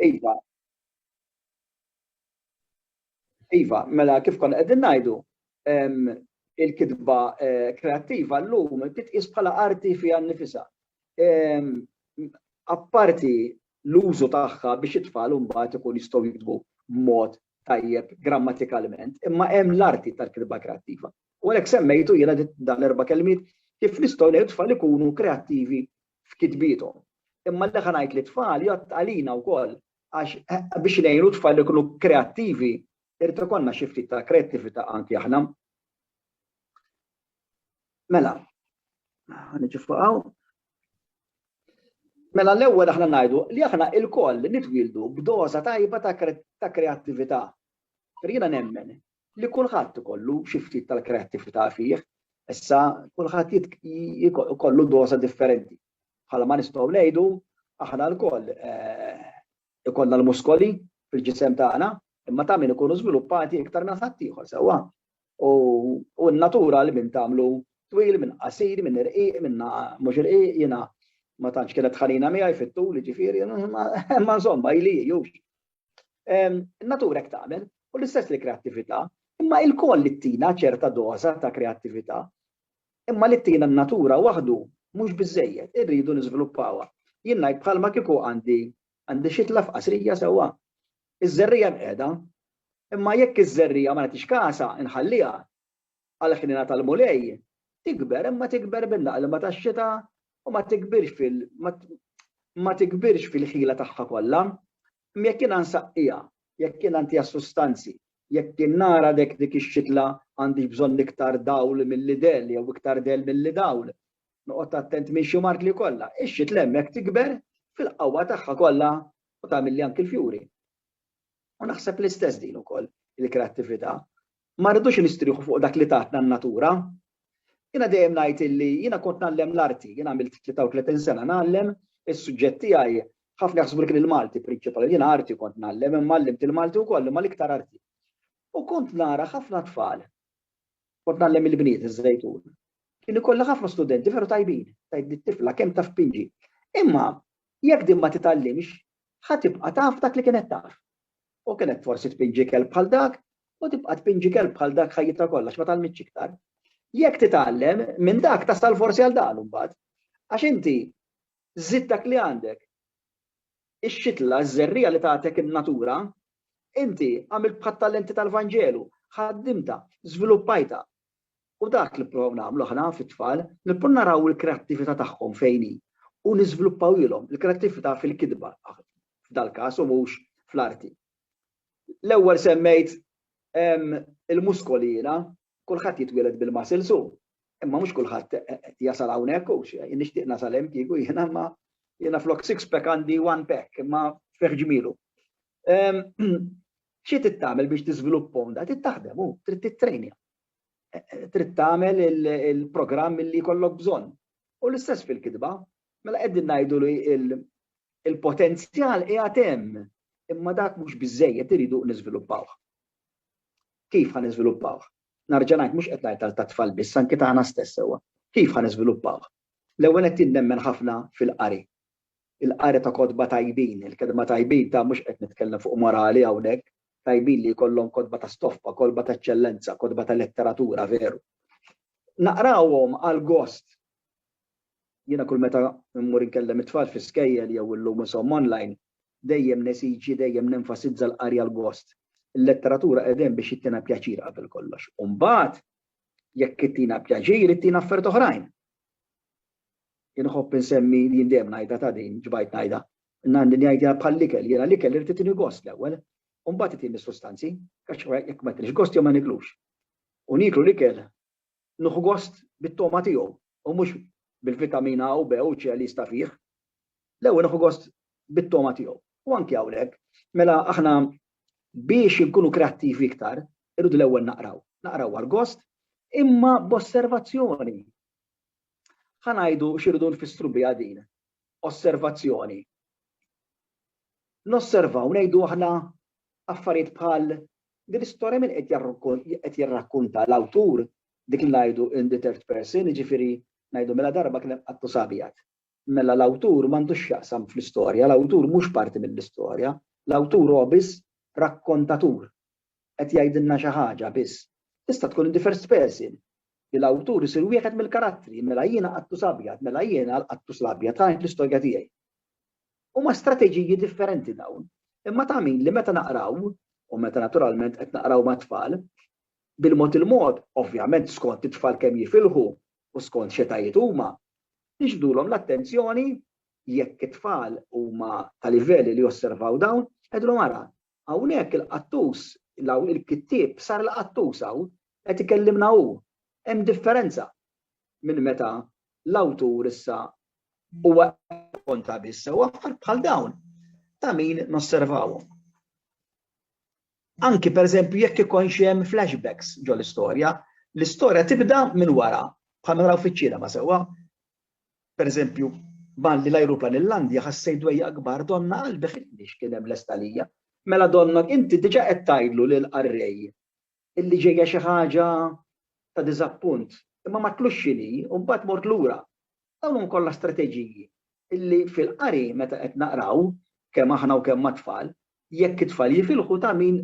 Iva. Iva, mela kif konna qegħdin ngħidu, il-kitba eh, kreattiva llum titqis bħala arti fiha nnifisha. Apparti l-użu tagħha biex it-tfal mbagħad ikun jistgħu jiktbu b'mod tajjeb grammatikalment, imma hemm l-arti tal-kitba kreattiva. U għalhekk semmejtu jiena dan erba' kelmiet kif nistgħu ngħidu tfal ikunu kreattivi f'kitbiethom. Imma l-leħa ngħid li t-tfal jgħodd għalina wkoll għax biex ngħinu t-tfal ikunu kreattivi irid ikollna xi ftit ta' kreattività anki aħna. Mela, niġi fuqaw. Mela l-ewwel aħna ngħidu li aħna il-koll nitwildu b'doża tajba ta' kreattività. Jiena nemmen li kulħadd ikollu xi ftit tal-kreattività fih, issa kulħadd ikollu doża differenti. Bħala ma nistgħu ngħidu aħna lkoll eh, ikollna l-muskoli fil-ġisem tagħna, imma ta' min ikunu żviluppati iktar minn ħadd ieħor sewwa. U n-natura li minn tagħmlu twil, minn qasir, minn irqiq, minn mhux irqiq, jiena ma tantx kienet ħanina miegħi fit-tul, ġifieri, ma insomma ili jux. In-natura hekk tagħmel u l-istess li kreattività, imma ilkoll li tina ċerta doża ta' kreattività, imma li tina n-natura waħdu mhux biżżejjed, irridu niżviluppawha. Jien ngħid bħalma kieku għandi għandi xitla f'qasrija sewwa. Iż-żerriegħa mqiegħda, imma jekk iż-żerriegħa ma nagħtix kasha, inħalliha, għall-ħniena tal-Mulej, tikber imma tikber bil-laqlma tax-xita u ma tikbirx fil ma tikbirx fil-ħila tagħha kollha. Imma jekk jiena nsaqqiha, jekk jiena ntiha sustanzi, jekk jien nara dek dik ix-xitla għandix bżonn iktar dawl milli del jew iktar del milli dawl, noqgħod attent minn xi mart li kollha, ix-xitla hemmhekk tikber fil-qawwa tagħha kollha u tagħmilli anki l-fjuri. U naħseb l-istess din ukoll il-kreattività. Ma rridux nistrieħu fuq dak li tatna n-natura. Jiena dejjem ngħid illi jiena kont ngħallem l-arti, jien għamilt 33 sena ngħallem, is-suġġett tiegħi ħafna jaħsbu li kien il-Malti prinċipali, jiena arti kont ngħallem imma għallimt il-Malti wkoll imma l-iktar arti. U kont nara ħafna tfal, kont ngħallem il-bniet iż-żejtun. Kien ikollha ħafna studenti veru tajbin, tajt tifla kemm taf pinġi. Imma jekk din ma titgħallimx, ħa tibqa' taf dak li kienet taf. U kien hekk forsi tpinġi kelb bħal dak u tibqa' tpinġi kelb bħal dak ħajjitha kollha għax ma tgħallmitx iktar. Jekk titgħallem minn dak tasal forsi għal dan imbagħad. Għax inti żidt dak li għandek. Ix-xitla, ż-żerriegħa li tagħtek in-natura, inti għamilt bħat-talenti tal-Vanġelu, ħaddimtha, żviluppajtha, U dak li nipprovaw nagħmlu aħna fit-tfal, nipprovaw naraw il-kreattività tagħhom fejn hi u niżviluppawhielhom il-kreattività fil-kitba, f'dal-każ u mhux fl-arti. L-ewwel semmejt il-muskoli jiena, kulħadd jitwieled bil-muscles hu, imma mhux kulħadd jasal hawnhekk hu, jien nixtieq nasal hemm kieku jiena imma jiena flok six pack għandi one pack imma fi ħġmielu. Xi trid tagħmel biex tiżviluppa onda? Trid taħdem u trid tittrejnja. E, e, trid tagħmel il-programm li jkollok bżonn. U l-istess fil-kitba, mela qegħdin ngħidu li il-potenzjal qiegħed hemm, imma dak mhux biżejjed iridu niżviluppawh. Kif ħan niżviluppawh? Narġa' ngħid mhux qed ngħid ta' tfal biss anke tagħna stess sewwa. Kif ħan niżviluppawh? L-ewwel qed tinnemmen ħafna fil-qari. il-qari ta' kotba tajbin, il-kelma tajbin ta' mhux qed nitkellem fuq morali hawnhekk, tajbin li jkollhom kotba ta' stoffa, kolba ta' eċċellenza, kotba ta' letteratura veru. Naqrawhom għal gost. Jiena kull meta mmur inkellem it-tfal fi skejjel jew illum insom online, dejjem nesiġi, dejjem nenfasizza l-qari għal gost. Il-letteratura qiegħda hemm biex ittina pjaċir qabel kollox. U mbagħad jekk ittina pjaċir, ittina affarijiet oħrajn. Jien nħobb insemmi li jien dejjem ngħidha ta' din, ġbajt ngħidha. Ngħandi ngħidha bħall-ikel, jiena l-ikel irid itini gost l-ewwel, u mbagħad itini s-sustanzi, għax jekk ma jtinix gost jew ma niklux. U nieklu l-ikel nieħu gost bit-togħma tiegħu u mhux bil-vitamina A u B u C li jista' fih. L-ewwel nieħu gost bit-togħma tiegħu. U anki hawnhekk, mela aħna biex inkunu kreattivi iktar, irridu l-ewwel naqraw. Naqraw għall-gost, imma b'osservazzjoni. Ħa ngħidu x'irridu nfissru biha din osservazzjoni. Nosservaw ngħidu aħna affarijiet bħal din l-istorja min qed jirrakkunta l-awtur dik li ngħidu in the third person, jiġifieri ngħidu mela darba kien hemm qattus abjad. mela l-awtur m'għandu x'jaqsam fl-istorja, l-awtur mhux parti mill-istorja, l-awtur huwa biss rakkontatur, qed jgħidilna xi ħaġa biss. Tista' tkun in the first person, li l-awtur isir wieħed mill-karattri, mela jiena Qattus Abjad, mela jiena l-Qattus l-Abjad, ħa int l-istorja tiegħi. Huma strateġiji differenti dawn, imma ta' min li meta naqraw, u meta naturalment qed naqraw mat-tfal, bil-mod il-mod, ovvjament skont it-tfal kemm jifilħu u skont x'età jituma, Nixbdulhom l-attenzjoni, jekk it-tfal huma ta' livell li josservaw dawn, ngħidulhom ara, hawnhekk il-qattus, il-kittieb sar il-qattus hawn, qed ikellimna hu. Hemm differenza minn meta l-awtur issa huwa qed jirrakkonta biss. U affarijiet bħal dawn ta' min nosservawhom? Anki pereżempju jekk ikonx hemm flashbacks ġol-istorja, l-istorja tibda minn wara, bħal ma naraw fiċ-ċinema sewwa. Pereżempju, malli l-ajruplan illandia ħassejt dwejjaq kbar donnha qalbi ħittni x'kien hemm lest għalija. Mela donnok inti diġa qed tgħidlu lill-qarrej illi ġejja xi ħaġa ta' diżappunt, imma ma tlux x'inhi u mbagħad mort lura. Dawn huma kollha strateġiji illi fil-qari meta qed naqraw, kemm aħna u kemm mat-tfal, jekk it-tfal jifilħu ta' min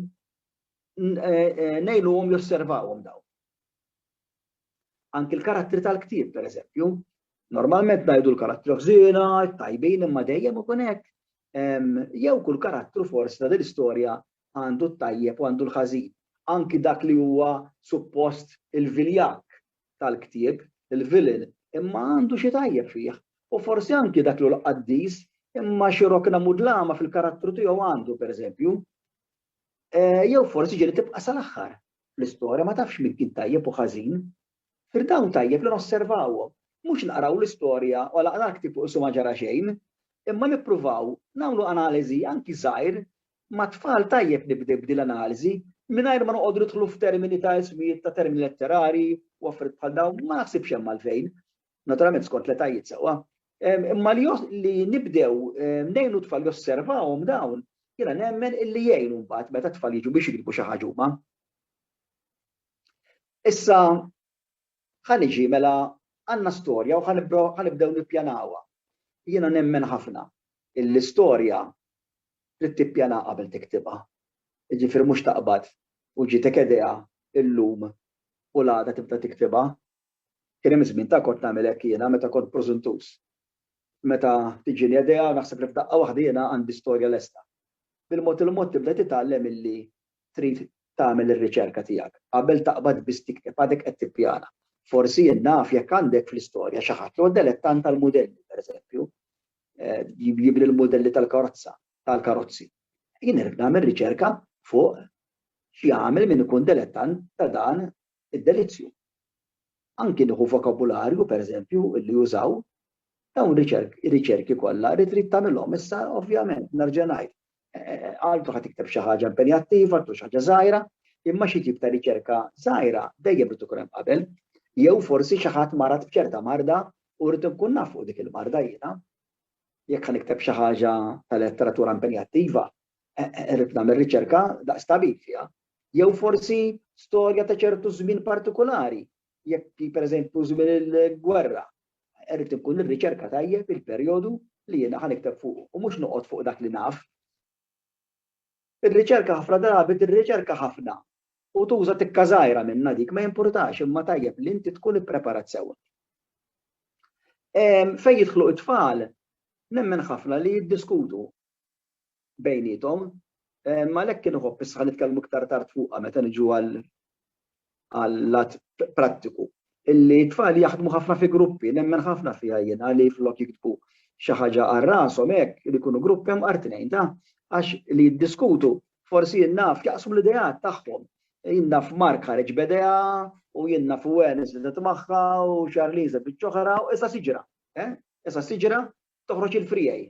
ngħinuhom josservawhom dawn. Anki l-karattri tal-ktieb, per eżempju, normalment ngħidu l-karattri ħżiena, tajbin imma dejjem ikun hekk. Jew kull karattru forsi ta' din istorja għandu t-tajjeb u għandu l-ħażin. Anki dak li huwa suppost il-viljak tal-ktieb, il-villain, imma għandu xi tajjeb fih, u forsi anki dak l-hu l-qaddis, imma xi rokna mudlama fil-karattru tiegħu għandu, pereżempju. Jew forsi ġieli tibqa' sal-aħħar l-istorja ma tafx min kien tajjeb u ħażin. Fir dawn tajjeb li nosservawhom, mhux naqraw l-istorja u għalaqna l-ktieb u qisu ma ġara xejn, imma nippruvaw nagħmlu analiżi anki żgħir Mat-tfal tajjeb nibdew b'din l-analiżi, mingħajr ma noqogħdu nidħlu f'termini ta' ismijiet ta' termini letterari u affarijiet bħal dawn, ma naħsibx hemm għalfejn, naturalment skont l-etajiet sewwa. Imma li nibdew ngħinu t-tfal josservawhom dawn, jiena nemmen illi jgħin mbagħad meta t-tfal jiġu biex jiktbu xi ħaġa huma. Issa ħa niġi mela għandna storja u ħa nibdew nippjanawha. Jiena nemmen ħafna illi storja trid tippjana qabel tiktibha. Jiġifieri mhux taqbad u ġietek idea illum u l-għada tibda tiktibha. Kien hemm żmien ta' kont nagħmel hekk jiena meta kont prożuntuż. Meta tiġini idea naħseb li f'daqqa waħda jiena għandi storja lesta. Bil-mod il-mod tibda titgħallem illi trid tagħmel ir-riċerka tiegħek. Qabel taqbad biss tikteb għadek qed tippjana. Forsi jien naf jekk għandek fl-istorja xi ħadd li huwa delettant tal-mudelli, pereżempju, jibni l-mudelli tal-karozza, tal-karozzi. Jien irrid nagħmel riċerka fuq x'jagħmel min ikun delettant ta' dan id-delizzju. Anki nieħu vokabularju, pereżempju, li jużaw, dawn riċerki kollha rrid trid tagħmilhom. Issa, ovvjament, nerġa' ngħid, għaltu ħad ikteb xi ħaġa impenjattiva, għaltu xi ħaġa żgħira, imma xi tip ta' riċerka żgħira dejjem irid ikun hemm qabel, jew forsi xi ħadd marat b'ċerta marda u rrid nkun naf fuq dik il-marda jiena. Jekk ħan ikteb xi ħaġa ta' letteratura impenjattiva, e, e, rrid nagħmel riċerka daqs tabib fiha. Jew forsi storja ta' ċertu żmien partikolari jekk pereżempju żmien il-gwerra. Irrid inkun nirriċerka tajjeb il-perjodu li jiena ħa nikteb fuq u mhux noqgħod fuq dak li naf. Ir-riċerka ħafna drabi tirriċerka ħafna u tuża tikka żgħira minnha dik ma jimpurtax imma tajjeb li inti tkun ippreparat sewwa. Fejn jidħlu t-tfal, nemmen ħafna li jiddiskutu bejniethom. Għalhekk inħobb issa nitkellmu iktar tard fuqha meta niġu għal-lat prattiku. Illi t-tfal jaħdmu ħafna fi gruppi, nemmen ħafna fiha jien, li flok jiktbu xi ħaġa għal rashom hekk, li jkunu grupp hemm għar tnejn ta', għax li jiddiskutu, forsi jien naf, jaqsmu l-ideat tagħhom. Jien naf Mark ħareġ b'idea, u jien naf Wen żiedet magħha, u Charlene żedet oħra, u issa siġra. Issa siġra toħroġ il-friegħi.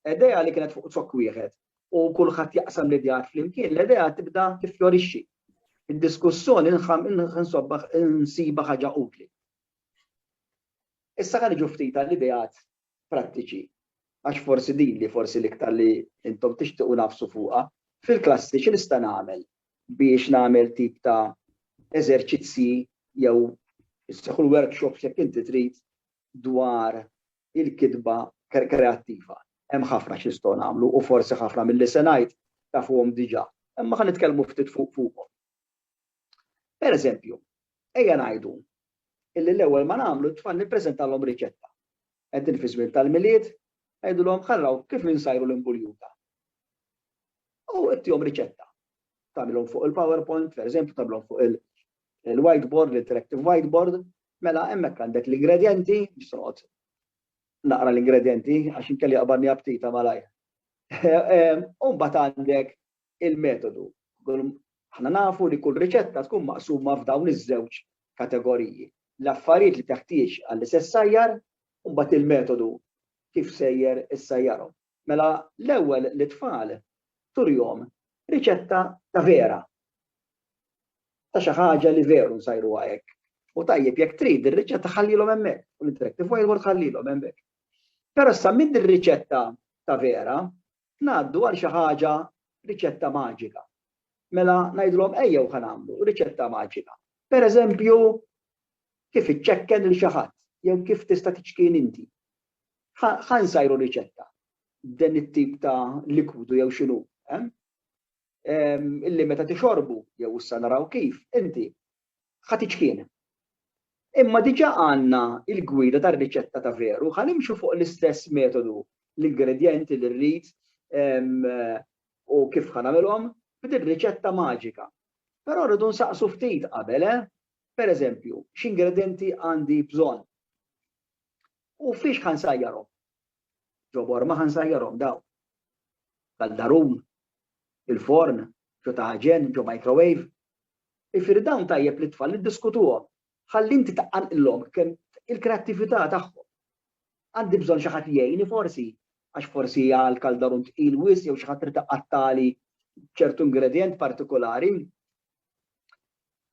Idea li kienet fuq zokk wieħed u kulħadd jaqsam l-ideat flimkien, l-idea tibda tiffjorixxi. Id-diskussjoni nsiba ħaġa utli. Issa ħa niġu ftit għall-ideat prattiċi għax forsi din li forsi l-iktar li intom tixtiequ nafsu fuqha, fil-klassi xi nista' nagħmel biex nagħmel tip ta' eżerċizzji jew isseħħu l-workshops jekk inti trid dwar il-kitba kreattiva. Hemm ħafna xi nistgħu nagħmlu u forsi ħafna milli se ngħid tafuhom diġà, imma ħa nitkellmu ftit fuqhom. Per eżempju, ejja ngħidu illi l-ewwel ma nagħmlu t-tfal nippreżentalhom riċetta. Qegħdin fi żmien tal-milied, ngħidulhom ħarraw kif insajru l-imbuljuta. U ittihom riċetta. Tagħmilhom fuq il-PowerPoint, per eżempju, tagħmilhom fuq il- il-whiteboard, l-interactive whiteboard, mela hemmhekk għandek l-ingredjenti, nisroqgħod naqra l-ingredjenti għax inkelli qabarni aptita malajr. U mbagħad għandek il-metodu. Aħna nafu li kull riċetta tkun maqsuma f'dawn iż-żewġ kategoriji. L-affarijiet li teħtieġ għall-istess sajjar, u mbagħad il-metodu kif sejjer is-sajjarhom. Mela l-ewwel lit-tfal turihom riċetta ta' vera, ta' xi ħaġa li veru nsajruha hekk. U tajjeb jekk trid ir-riċetta ħallilhom hemmhekk, u l-interactive whiteboard ħallilhom hemmhekk. Però issa minn din riċetta ta' vera ngħaddu għal xi ħaġa riċetta maġika. Mela ngħidilhom ejjew ħa nagħmlu riċetta maġika. Pereżempju kif iċċekken lil xi ħadd jew kif tista' tiċkien inti. Ħa nsajru riċetta b'dan it-tip ta' likwidu jew x'inhu, eh? Illi meta tixorbu jew issa naraw kif, inti ħa tiċkien. Imma diġà għandna il-gwida tar-riċetta ta' veru, ħa nimxu fuq l-istess metodu l-ingredjenti li rrid u kif ħa nagħmilhom b'din riċetta maġika. Però rridu nsaqsu ftit qabel, eh? Per eżempju, x'ingredjenti għandi bżonn? U fiex ħa nsajjarhom? Ġo Borma ħa nsajjarhom dawn. Kaldarun, il-forn, ġo taħġen, ġo microwave. Ifieri dawn tajjeb li t-tfal niddiskutuhom ħalli inti taqqanqilhom kemm il-kreattività tagħhom. Għandi bżonn xi ħadd jgħini forsi għax forsi hija l-kaldarun tqil wisq jew xi ħadd trid iqattali ċertu ingredjent partikolari.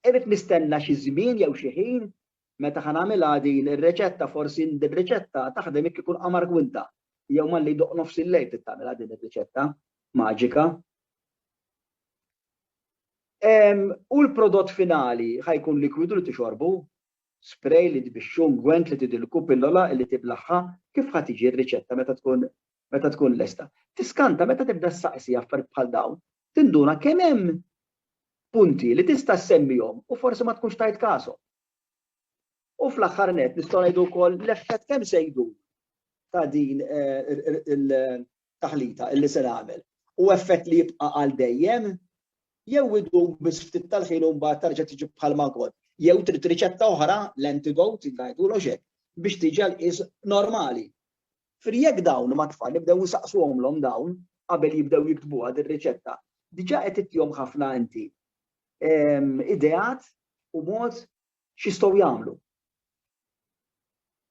Irid nistenna xi żmien jew xi ħin Meta ħa nagħmilha din ir-riċetta forsi din ir-riċetta taħdem jekk ikun qamar gwinta jew malli jdoqq nofs il-lejl trid tagħmilha din ir-riċetta maġika. U l-prodott finali ħa jkun likwidu li tixorbu, spray li tbixxu, gwent li tidilku, pillola li tiblaħħa, kif ħa tiġi r-riċetta meta tkun meta tkun lesta. Tiskanta meta tibda ssaqsi affarijiet bħal dawn, tinduna kemm hemm punti li tista' ssemmihom u forsi ma tkunx tajt kashom. U fl-aħħar nett nistgħu ngħidu wkoll l-effett kemm se jdur ta' din il-taħlita illi se nagħmel. U effett li jibqa' għal dejjem jew idum biss ftit tal-ħin u mbagħad terġa' tiġi bħal ma kont. Jew trid riċetta oħra, l-antidote, ngħidulhom x'hekk, biex tiġi għall-qies normali. Fri jekk dawn mat-tfal ibdew isaqsuhomlhom dawn qabel jibdew jiktbuha dir-riċetta, diġà qed ittihom ħafna inti ideat u mod x'jistgħu jagħmlu.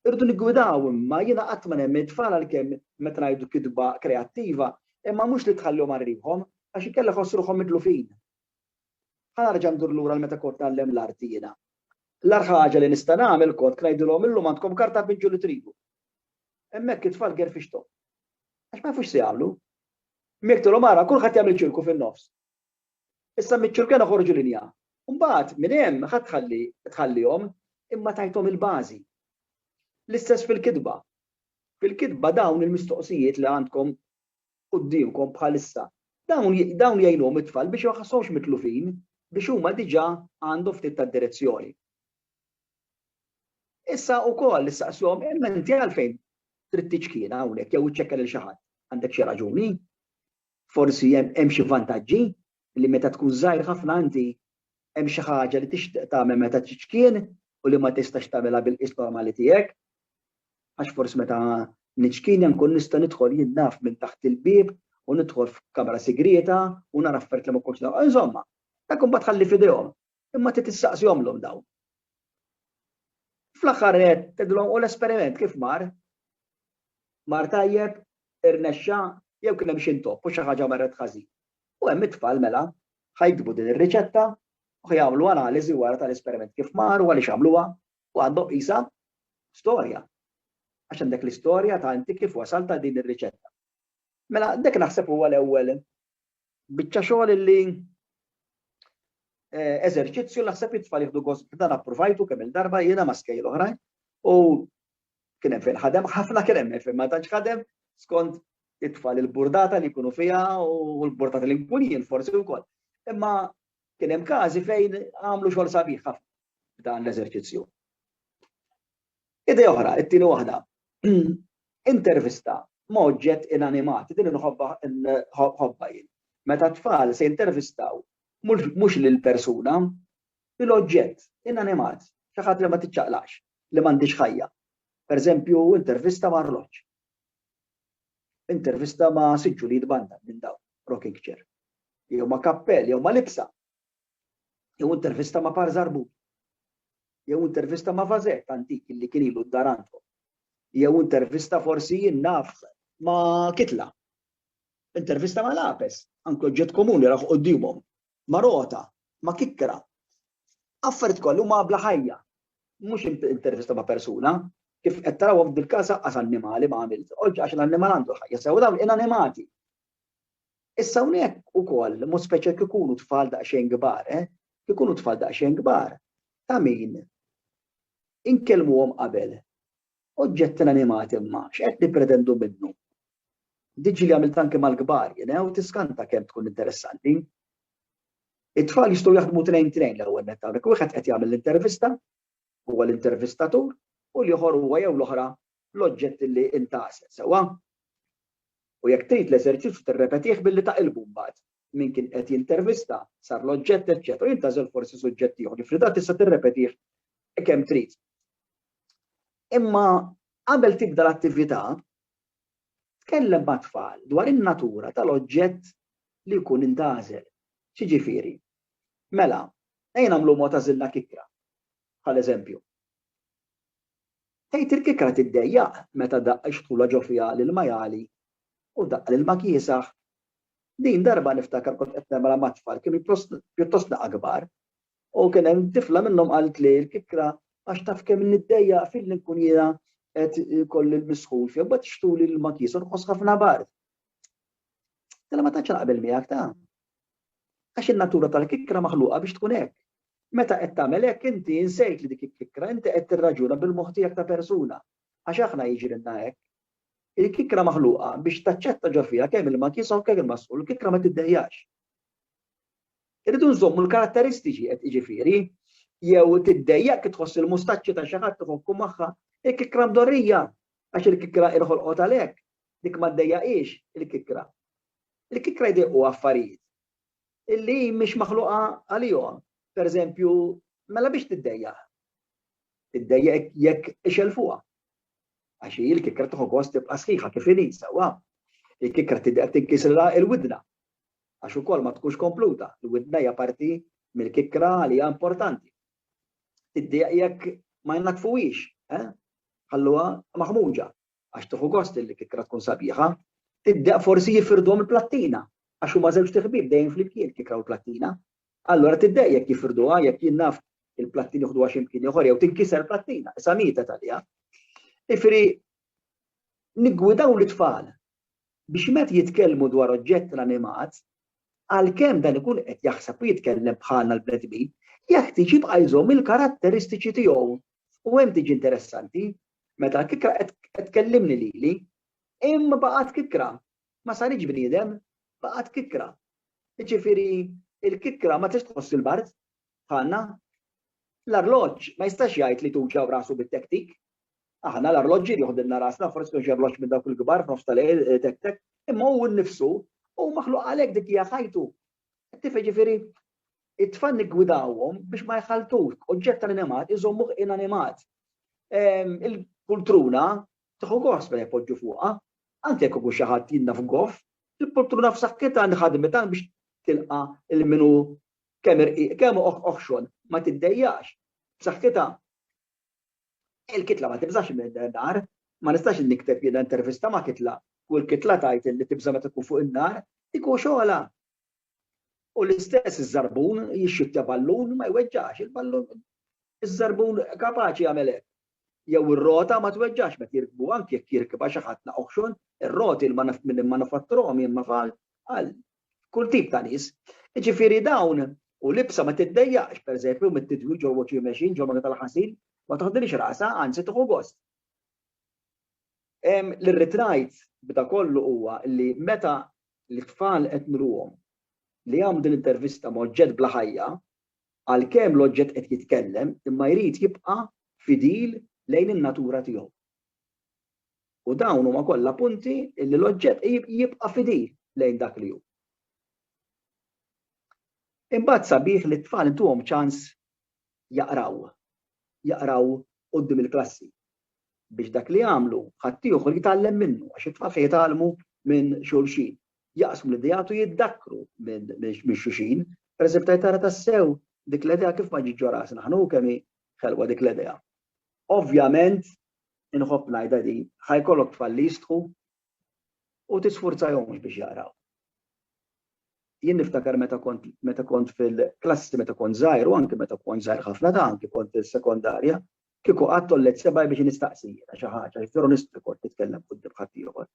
Irridu niggwidaw imma jiena qatt ma nemmen it-tfal għalkemm meta ngħidu kitba kreattiva imma mhux li tħallihom għal riħhom għax inkella jħossu ruħhom midlufin. Ħa nerġa' ndur lura għal meta kont ngħallem l-arti jiena. L-agħar ħaġa li nista' nagħmel kont ngħidilhom illum għandkom karta pinġu li tridu. Hemmhekk it-tfal gerfixthom. Għax ma jafux x'jagħmlu. Jekk tolhom ara kulħadd jagħmel ċirku fin-nofs. Issa miċ-ċirkena ħorġu linja. Mbagħad minn hemm ħadd tħalli tħallihom imma tajthom il-bażi. L-istess fil-kitba. Fil-kitba dawn il-mistoqsijiet li għandkom quddiemkom bħalissa dawn jgħinhom it-tfal biex ma jħasshomx mitlufin biex huma diġà għandhom ftit tad-direzzjoni. Issa wkoll issaqshom imma inti għalfejn trid tiċkien hawnhekk jew iċċekkja lil xi ħadd? Għandek xi raġuni? Forsi hemm xi vantaġġi li meta tkun żgħir ħafna inti hemm xi ħaġa li tixtieq tagħmel meta tiċkien u li ma tistax tagħmilha bil-qis normali tiegħek. Għax forsi meta niċkien nkun nista' nidħol jien naf minn taħt il-bieb u nidħol f'kamra sigrieta u nara affarijiet li ma kontx Insomma, dak imbagħad ħalli f'idejhom. Imma trid tistaqsihomlhom dawn. Fl-aħħar qed tgħidilhom u l-esperiment kif mar? Mar tajjeb, irnexxa, jew kien hemm xi ntopp u xi ħaġa marret ħażin. U hemm it-tfal mela ħajkbu din ir-riċetta u jagħmlu analiżi wara tal-esperiment kif mar u għaliex għamluha u għandhom qisha storja. Għax għandek l-istorja ta' inti kif wasal ta' din ir-riċetta. Mela, dik naħseb huwa l-ewwel Biċċa xogħol illi eh, eżerċizzju li naħseb it-tfal jieħdu gost b'dan approvajtu kemm il-darba jiena ma' skejl oħrajn u kien hemm fejn ħadem ħafna kien hemm fejn ma tantx ħadem skont it-tfal il-burdata li jkunu fiha u l-burdata li nkun jien forsi wkoll. Imma kien hemm każi fejn għamlu xogħol sabiħ ħafna b'dan l-eżerċizzju. Idea oħra, it-tieni waħda, intervista ma' oġġett inanimat, din inħobbha nħobbha jien. Meta t-tfal se jintervistaw mhux lill-persuna, lill-oġġett inanimat, xi ħadd li ma tiċċaqlaqx, li m'għandhiex ħajja. Pereżempju, intervista ma' arloġġ. Intervista ma' siġġu li jitbandal minn dawn, rocking chair. Jew ma' kappell, jew ma' libsa. jew intervista ma' Par Żarbut, jew intervista ma' Vazet antik li kien ilu d-dar għandhom, jew intervista forsi jien naf ma' Kitla, intervista ma' Lapes, anke oġġett komuni rah quddiemhom, ma' Rota, ma' Kikra. Affarijiet kollha huma bla ħajja, mhux intervista ma' persuna, kif qed tarawhom f'dil-każ aqqas annimali ma' għamilt, oġġ għax l-annimal għandu ħajja sew dawn inanimati. Issa hawnhekk ukoll mod speċjal kif ikunu tfal daqsxejn kbar, eh? Kif ikunu tfal daqsxejn kbar, ta' min inkellmuhom qabel. Oġġetti inanimati imma x'qed nippretendu minnu? Diġi li għamilt anke mal-kbar, jena, u tiskanta kemm tkun interessanti. It-tfal jistgħu jaħdmu trejn trejn l-ewwel net hawnhekk. Wieħed qed jagħmel l-intervista, huwa l-intervistatur, u l-ieħor huwa jew l-oħra l-oġġetti li int għażel, sewwa? U jekk trid l-eżerċizzju tirrepetih billi taqilbu mbagħad. Min kien qed jintervista, sar l-oġġett, eċċetera, u int għażel forsi suġġett ieħor li f'ridat tista' tirrepetih kemm trid. Imma qabel tibda l-attività, tkellem mat-tfal dwar in-natura tal-oġġett li jkun intgħażel. Xiġifieri? Mela, ejja nagħmlu mod għażilna kikra, bħal eżempju. Tgħid il-kikra tiddejjaq meta daqq ix-xtula ġo fiha lil Majali u daqq lil ma kiesaħ. Din darba niftakar kont qed nemra ma' tfal kienu pjuttostna kbar u kien hemm tifla minnhom qaltli l-kikra għax taf kemm niddejjaq filli nkun jiena qed ikolli l-misħun fija mbagħad xtuli lil ma kiesa u nħoss ħafna bard. Tilha ma tantx naqbel miegħek ta. Għax in-natura tal-kikra maħluqa biex tkun hekk. Meta qed tagħmel hekk inti insejt li dik il-kikkra, inti qed tirraġuna bil-moħħ tiegħek ta' persuna. Għax aħna jiġrilna hekk. Il-kikkra maħluqa biex taċċetta ġo fiha kemm ilma kiesaw u kemm ilma sħun, il-kikkra ma tiddejjax. Irridu nżommu l-karatteristiċi qed jiġifieri jew tiddejjaq tħoss il-mustaċċi ta' xi ħadd iħokku magħha, il-kikkra mdorrija għax il-kikkra irħolqot għalhekk, dik ma ddejjaqix il-kikkra. Il-kikkra jdejqu affarijiet. illi mhix maħluqa għalihom. Pereżempju, mela biex tiddejjaq? Tiddejjaq jekk ixelfuha. Għax hi l-kikra tieħu gost tibqa' sħiħa kif inhi sewwa. Il-kikra tidher tinkisrilha l-widna. Għax ukoll ma tkunx kompluta, l-widna hija parti mill-kikra li hija importanti. Tiddejjaq jekk ma jnaddfuhiex, eh? Ħalluha maħmuġa. għax tieħu gost li l-kikra tkun sabiħa, tiddeq forsi jifirduhom il-plattina għax huma żewġt iħbieb dejjem flimkien il-kikra u l-plattina. Allura tiddeq jekk jifirduha, jekk jien naf il-plattina jieħduha xi mkien ieħor jew tinkiser plattina, issa mietet għaliha. Ifieri niggwidaw l-itfal biex meta jitkellmu dwar oġġett l-animat, għalkemm dan ikun qed jaħseb u jitkellem bħalna l-bnedmin, jeħtieġ jibqa' jżomm il-karatteristiċi tiegħu. U hemm tiġi interessanti, Meta l-kikra qed tkellimni lili, imma baqgħet kikra, ma saritx bniedem, baqgħet kikra. Jiġifieri l-kikra ma tistax tħoss il-bard bħalna. L-arloġġ ma jistax jgħid li tuġaw rasu bit-tektik. Aħna l-arloġġi joħdilna rasna, forsi kienx arloġġ minn dawk il-kbar f'nofs tal-lejl eh, tek tek, imma hu nnifsu u maħluq għalhekk dik hija ħajtu Ttif jiġifieri it-tfal niggwidawhom biex ma jħaltux oġġett tal-animat iżommuh inanimat. Ehm, il-pultruna tieħu gost meta jpoġġu fuqha, anke jekk ikun xi ħadd jinna f'goff, il-pultruna f'saħħitha li ħadmet biex tilqa' il-minu kemm irqiq kemm oħxon ma tiddejjax b'saħħitha. Il-kitla ma tibżax min-nar, ma nistax nikteb jiena intervista ma' kitla u l-kitla tgħid li tibża' meta tkun fuq in-nar, dik hu xogħolha. U l-istess iż-żarbun jixxittja ballun ma jweġġax, il-ballun iż-żarbun kapaċi jagħmel hekk. Jew ir-rota ma tweġġax meta jirkbuha anke jekk jirkibha xi ħadd naqoħxon, ir-roti l-manifatturuhom jien ma fal, Kull tip ta' nies. Jiġifieri dawn u l-ibsa ma tiddejjaqx, pereżempju, mit-tidwil ġol wacchie machine, ġol magna tal-ħasil, ma toħdilhiex rasha, anzi tieħu gost. Li rrid ngħid b'da kollu huwa li meta l-itfal qed nruhom li jagħmlu din l-intervista ma' oġġett bla ħajja, għalkemm l-oġġett qed jitkellem imma jrid jibqa' fidil lejn in-natura tiegħu. U dawn huma kollha punti li l-oġġett jibqa' fidil lejn dak li hu. Imbagħad sabiħ li t-tfal intuhom ċans jaqraw, jaqraw quddiem il-klassi biex dak li jagħmlu ħaddieħor jitgħallem minnu għax it-tfal se jitgħallmu minn xulxin. Jaqsmu l-ideat u jiddakkru minn xulxin. Pereżempju, tgħid tara tassew dik l-idea kif ma ġietx ġo rasna ħa hu kemm hi ħelwa dik l-idea. Ovvjament, inħobb ngħidha din, ħa jkollok tfal li jistħu u tisfurzajhomx biex jaqraw. Jien niftakar meta kont meta kont fil-klassi meta kont żgħir u anke meta kont żgħir ħafna ta' anke kont fis-sekondarja, kieku qatt tollet sebgħi biex nistaqsi jiena xi ħaġa, jekk veru nistħu kont nitkellem quddiem ħaddieħor.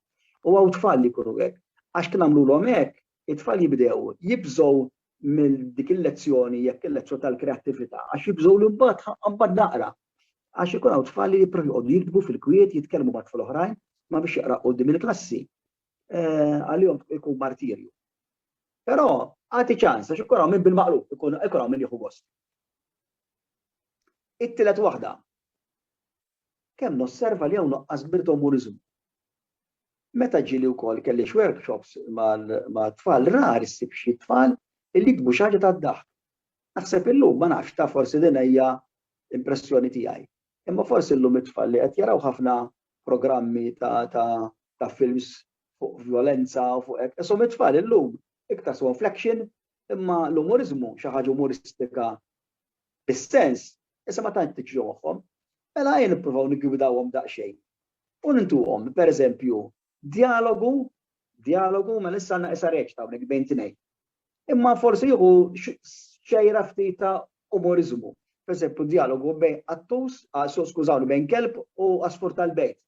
U hawn tfal li jkunu hekk, għax kien għamlulhom hekk, it-tfal jibdew jibżgħu minn dik il-lezzjoni jekk il-lezzjoni tal-kreattività għax jibżgħu li mbagħad mbagħad naqra. Għax ikun hawn tfal li jipprovu jqogħdu jiktbu fil-kwiet, jitkellmu ma' tfal oħrajn, ma biex jaqra qudiem il-klassi. Eh, għalihom ikun martirju. Però għati ċans għax ikun hawn minn bil-maqlub, ikun hawn minn jieħu gost. It-tielet waħda. Kemm nosserva li hawn nuqqas kbir ta' umuriżmu. Meta ġieli wkoll kelli x'workshops mat-tfal rar issib xi tfal li jiktbu xi ħaġa tad-daħk. Naħseb illum, ma nafx, taf forsi din hija impressjoni tiegħi, imma forsi llum it-tfal li qed jaraw ħafna programmi ta' films fuq vjolenza u fuq hekk, ishom it-tfal illum iktar sewhom fl-action imma l-umuriżmu, xi ħaġa umuristika bis-sens, Issa ma tantx tiġri moħħhom. Mela ejja nippruvaw niggwidawhom daqsxejn. U nintuhom, pereżempju, djalogu, djalogu, mela issa għandna issa reċta hawnhekk bejn tnejn. Imma forsi jieħu xejra ftit ta' umoriżmu. Pereżempju, djalogu bejn qattus, ah, skużawni, bejn kelb u asfur tal-bejt.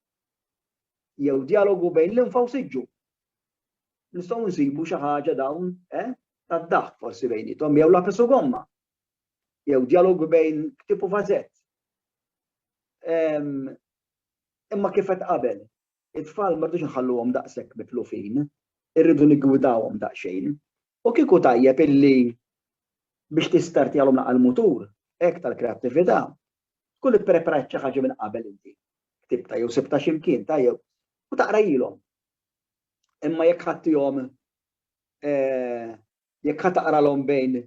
Jew djalogu bejn l-infa u siġġu. Nistgħu nsibu xi ħaġa dawn, eh? Tad-daħk forsi bejnietom, jew lapis u gomma. jew djalogu bejn ktieb u vażett. Imma kif qed qabel, it-tfal ma rridux nħalluhom daqshekk mitlufin, irridu niggwidawhom daqsxejn. U kieku tajjeb illi biex tistartjalhom naqal mutur, hekk tal-kreattività, tkun ippreparajt xi ħaġa minn qabel inti. Ktibta jew sibta xi mkien ta' jew u taqrajilhom. Imma jekk ħadtihom eh, Jekk ħa taqralhom bejn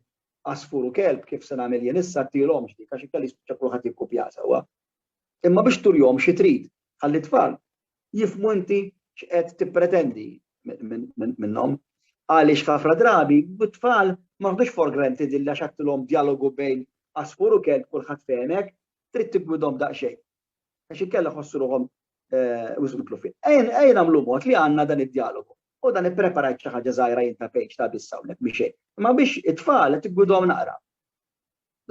għasfur u kelb, kif se nagħmel jien issa, tilhomx dik għax inkella jispiċċa kulħadd jikkupjaha sewwa. Imma biex turihom xi trid, ħalli t-tfal jifhmu inti x'qed tippretendi minnhom. Għaliex ħafna drabi, t-tfal ma ħdux for granted illa xattilhom djalogu bejn għasfur u kelb kulħadd fehmek, trid tiggwidhom daqsxejn. Għax inkella ħossu ruħhom wisq mitlufin. Ejn nagħmlu mod li għandna dan id-djalogu. U dan ippreparajt xi ħaġa żgħira jien ta' page ta' biss hawnhekk mhi xejn. Imma biex it-tfal qed iggwidhom naqra.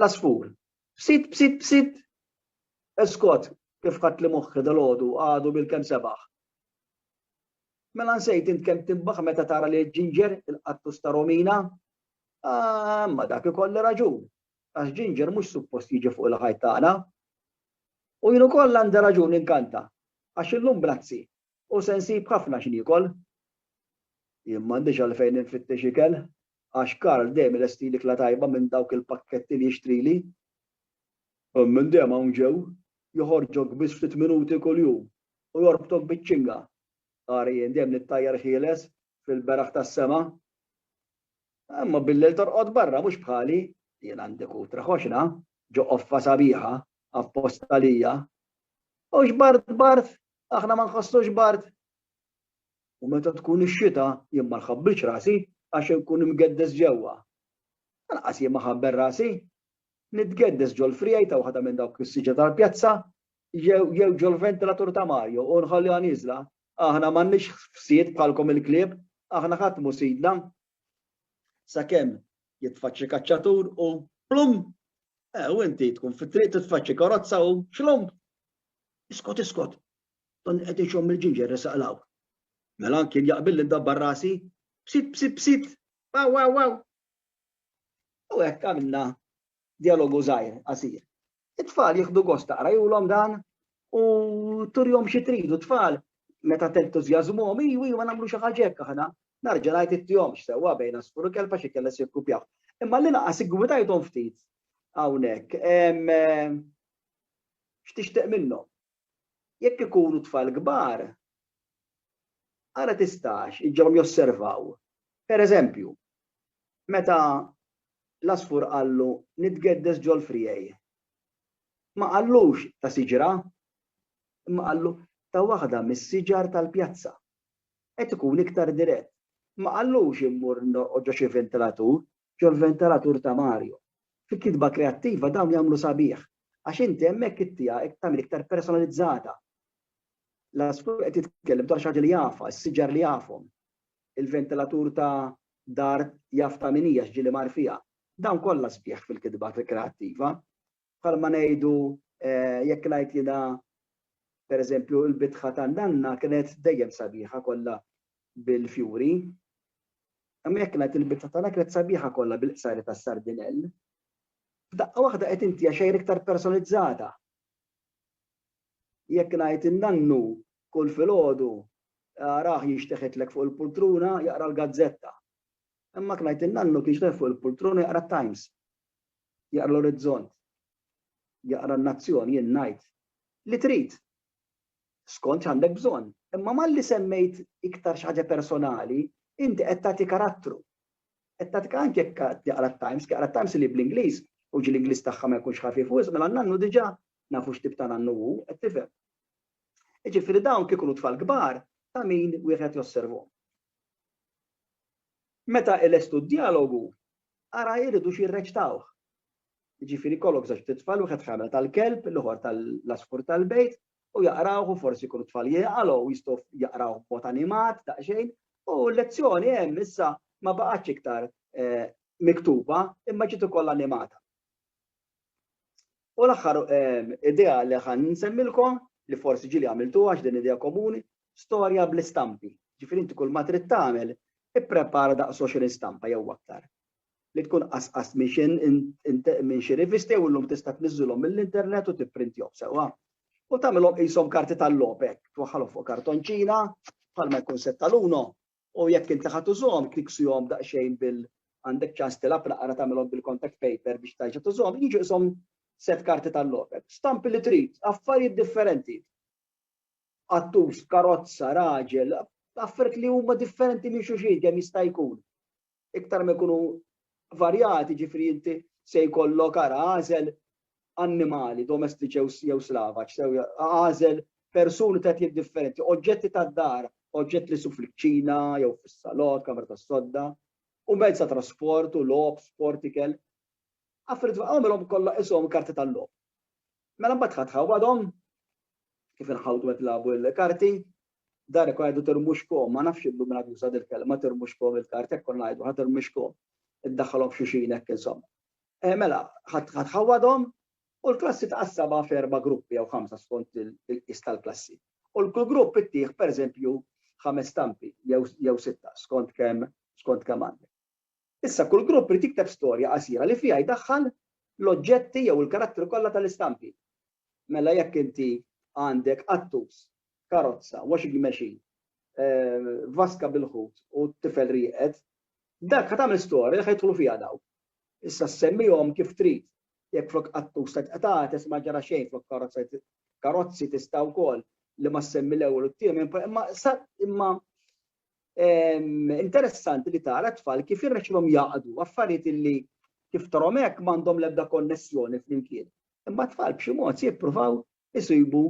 L-għasfur. B'sit b'sit b'sit. Eskot, kif ħadt li moħħi dalgħodu għadu bil-kemm sebaħ. Mela nsejt int kemm timbaħ meta tara li l-ġinġer il-qattus ta' Romina? Ah, ma dak ikolli raġun. Għax ġinġer mhux suppost jiġi fuq il-ħajt tagħna. U jien ukoll għandi raġun inkanta. Għax illum brazzi, U se nsib ħafna x'niekol. Jien m'għandix għalfejn infittex ikel, għax Karl dejjem ilestili kla tajba minn dawk il-pakketti li jixtrili. Hemm min dejjem hawn ġew, joħorġok biss ftit minuti kuljum u jorbtok biċ-ċinga. Ara jien dejjem nittajjar ħieles fil-beraħ tas-sema. Imma billejl torqod barra, mhux bħali. Jien għandi kutra ħoxna, ġo qoffa sabiħa, apposta għalija. U xbart bart Aħna ma nħossux bard. U meta tkun ix-xita jien ma nħabbilx rasi għax inkun imgeddes ġewwa. Anqas jien ma ħabbel rasi. Nitgeddes ġol-frijajta waħda minn dawk is-siġa tal-pjazza jew ġol-ventilatur ta' Mario u nħalliha nieżla. Aħna m'għandniex ħsied bħalkom il-klieb, aħna ħadd mhu sidna. Sakemm jitfaċċi kaċċatur u plum! Eh, u inti tkun fit-triq titfaċċi karozza u xlum! Iskot, iskot! Donni qed ixomm il-ġinġer resaq 'l hawn. Mela anki jien jaqbilli ndabbar rasi. Psit, psit, psit! Waw, waw, waw! U hekk għamilna djalogu żgħir, qasir. It-tfal jieħdu gost taqrajulhom dan u turihom xi tridu tfal meta tentużjażmuhom, iwa, iwa nagħmlu xi ħaġa hekk aħna. Narġa' ngħid ittihomx sewwa bejn għasfur u kelba xi kellha se jikkupjaw. Imma l-inqas iggwitajthom ftit hawnhekk. X'tixtieq minnhom? Jekk ikunu tfal kbar, ara tistax iġġibhom josservaw, per eżempju, meta l-għasfur qallu nitgeddes ġol-friegħi. Ma qallux ta' siġra, imma qallu ta' waħda mis-siġar tal-pjazza. Qed ikun iktar dirett. Ma qallux immur norqod ġo xi vintilatur, ġol-ventalatur ta' Mario. Fi kitba kreattiva dawn jagħmlu sabiħ għax inti hemmhekk it-tiegħek qed tagħmel iktar personalizzata. L-għasfur qed jitkellem dwar xi ħaġa li jafha, is-siġar li jafhom. Il-ventilatur ta' dar jaf ta' min hi għax ġieli mar fiha. Dawn kollha sbieħ fil-kitba kreattiva. Bħalma ngħidu jekk ngħid jiena pereżempju l-bitħa tan-nanna kienet dejjem sabiħa kollha bil-fjuri. Imma jekk ngħid il-bitħa tagħna kienet sabiħa kollha bil-qsari tas-sardinell. F'daqqa waħda qed intiha xejn iktar personalizzata. Jekk ngħid in-nannu kull filgħodu araħ jinxteħetlek fuq il-pultruna jaqra l-gazzetta. Imma kien ngħid in-nannu kien jinxteħ fuq il-pultruna jaqra t-Times. jaqra l-orizzont, jaqra n-nazzjon, jien ngħid li trid skont x'għandek bżonn. Imma malli semmejt iktar xi ħaġa personali, inti qed tagħti karattru. Qed tagħti anke jekk jaqra t-Times, jaqra t-Times li bl-Ingliż u ġi l-Ingliż tagħha ma jkunx ħafif wisq mela n-nannu diġà nafu x'tib ta' nannu hu, qed tifhem. Jiġifieri dawn kieku tfal kbar ta' min wieħed josservhom. Meta ilestu d-djalogu, ara jridux jirreċtawh. Jiġifieri jkollok żewġ ftit tfal, wieħed ħamel tal-kelb, l-ieħor tal-għasfur tal-bejt, u jaqrawh u forsi jkunu t-tfal jegħqalgħu u jistgħu jaqrawh b'mod animat daqsxejn, u l-lezzjoni hemm issa ma baqgħetx iktar miktuba imma ġiet ukoll animata. U l-aħħar ehm, idea li ħan nsemmilkom li forsi ġili għamiltu għax din idea komuni, storja bl-istampi. Ġifieri inti kull ma trid tagħmel, ipprepara daqs 20 stampa jew aktar. Li tkun qasqas minn xi rivisti u llum tista' tniżżilhom mill-internet u tipprintihom sewwa. U tagħmilhom qishom karti tal-lopek, twaħħalhom fuq kartonċina, bħalma jkun setta l-uno, U jekk inti ħa tużhom, tikksihom daqsxejn bil għandek ċans tilgħab naqra tagħmilhom bil-contact paper biex terġa' tużhom, jiġu qishom sett karti tal-logħob. Stampi li trid, affarijiet differenti. Qattus, karozza, raġel, affarijiet li huma differenti minn xulxin kemm jista' jkun. Iktar ma jkunu varjati, jiġifieri inti se jkollok ara għażel annimali domestiċi jew slavaġ, għażel persuni ta' etnijiet differenti, oġġetti tad-dar, oġġetti li su fil-kċina jew fis-salott, kamra tas-sodda, u mezz ta' trasport u logħob, sport, ikel. Affarijiet għamilhom kollha ishom karti tal-logħob. Mela mbagħad ħadd ħawadhom kif inħawdu qed nilagħbu l-karti, Dar ikun jgħidu tirmuxkom, ma nafx illum min għad juża dil-kelma tirmuxkom il-kart, hekk konna ngħidu ħa tirmixkom, iddaħħalhom f'xulxin hekk insomma. Eh, mela, ħa tħawwadhom u l-klassi tqassabha f'erba' gruppi jew ħamsa skont il-qis tal-klassi. U l-kull grupp ittih pereżempju ħames stampi jew sitta skont kemm skont kemm għandek. Issa kull grupp irid jikteb storja qasira li fiha jdaħħal l-oġġetti jew il-karattri kollha tal-istampi. Mela jekk inti għandek qattus, karozza, washing machine, vaska bil-ħut u tifel rieqed, dak ħa tagħmel storja li ħa jidħlu fiha dawk. Issa semmihom kif trid. Jekk flok qattus ta' tqtates ma ġara xejn flok karozza karozzi tista' wkoll li ma ssemmi l-ewwel u t-tiemen, imma imma interessanti li tara tfal kif irrexilhom jaqdu affarijiet illi kif tarhom hekk m'għandhom l-ebda konnessjoni flimkien. Imma tfal b'xi mod jippruvaw isibu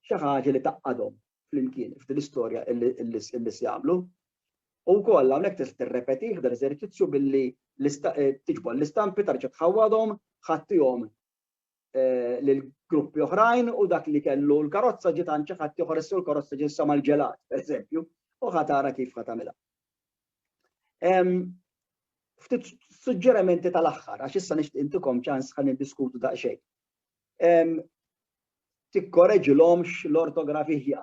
xi ħaġa li taqadhom flimkien f'din l-istorja illi se jagħmlu. U wkoll hawnhekk tista' tirrepetih dan eżerċizzju billi eh, tiġbor l-istampi tarġa' tħawwadhom, ħattihom lil gruppi oħrajn u dak li kellu l-karozza ġiet għand xi ħadd ieħor issa l-karozza ġiet issa mal-ġelat, pereżempju, u ħa tara kif ħa tagħmilha. Ftit suġġerimenti tal-aħħar għax issa nixtieq intikom ċans ħa niddiskutu daqsxejn. Tikkoreġilhomx l-ortografija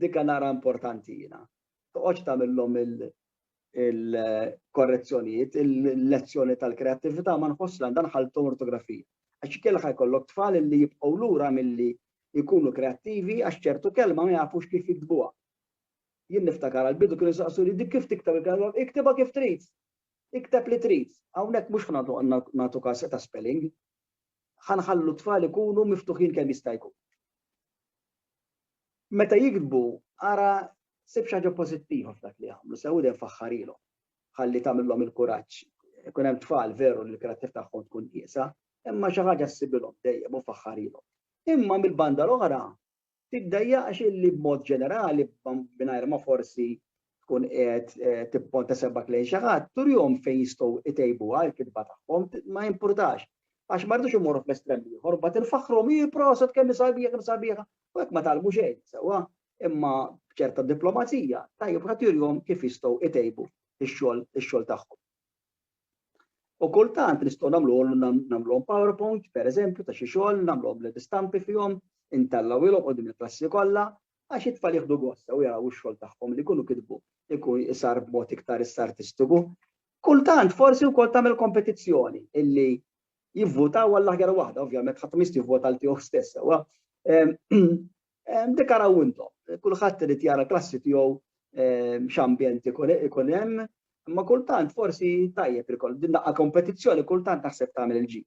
Dikha nara importanti jiena. Toqgħodx tagħmilhom il-korrezzjonijiet, il-lezzjoni tal-kreattività ma nħoss li għandha nħalltu ortografija. Għax ikellha jkollok tfal li jibqgħu lura milli jkunu kreattivi għax ċertu kelma ma jafux kif jiktbuha. Jien niftakar għal-bidu kienu saqsu li dik kif tiktab il-kelma, iktibha kif trid. Ikteb li trid. Hawnhekk mhux nagħtu każ ta' spelling, ħa nħallu t-tfal ikunu miftuħin kemm jista' jkun. Meta jikdbu, ara sib xi ħaġa pożittiva f'dak li jagħmlu, sew idem faħħarilhom, ħalli tagħmilhom il-kuraġġ. Ikun hemm tfal veru li l-kreattiv tagħhom tkun qiesa, imma xi ħaġa ssibilhom dejjem u faħħarilhom. Imma mill-banda l-oħra, Tiddejjaqx illi b'mod ġenerali, mingħajr ma forsi tkun qiegħed tipponta sebgħek lejn xi ħadd, turihom fejn jistgħu jtejbuha l-kitba tagħhom, ma jimpurtax. Għax ma rridux immorru fl-estrem l-ieħor, imbagħad infaħħruhom, ih proset kemm hi sabiħa, kemm hi sabiħa, u hekk ma tgħallmu xejn sewwa. Imma b'ċerta diplomazija, tajjeb wieħed jurihom kif jistgħu jtejbu x-xogħol tagħhom. U kultant nistgħu nagħmluhom nagħmluhom PowerPoint, pereżempju, ta' xi xogħol, nagħmluhom bl istampi fihom, intellgħuhilhom qudiem il-klassi kollha, għax it-tfal jieħdu gost sew jaraw ix-xogħol tagħhom li jkunu kitbu jkun isar b'mod iktar issa artistiku. Kultant forsi wkoll tagħmel kompetizzjoni illi jivvutaw għall-aħjar waħda, ovvjament ħadd mist jivvota għal tiegħu stess sewwa. Ehm, Dik araw intom. Kulħadd irid jara klassi tiegħu x'ambjent ikun hemm, imma kultant forsi tajjeb ikoll din daqqa kompetizzjoni kultant naħseb tagħmel il-ġid.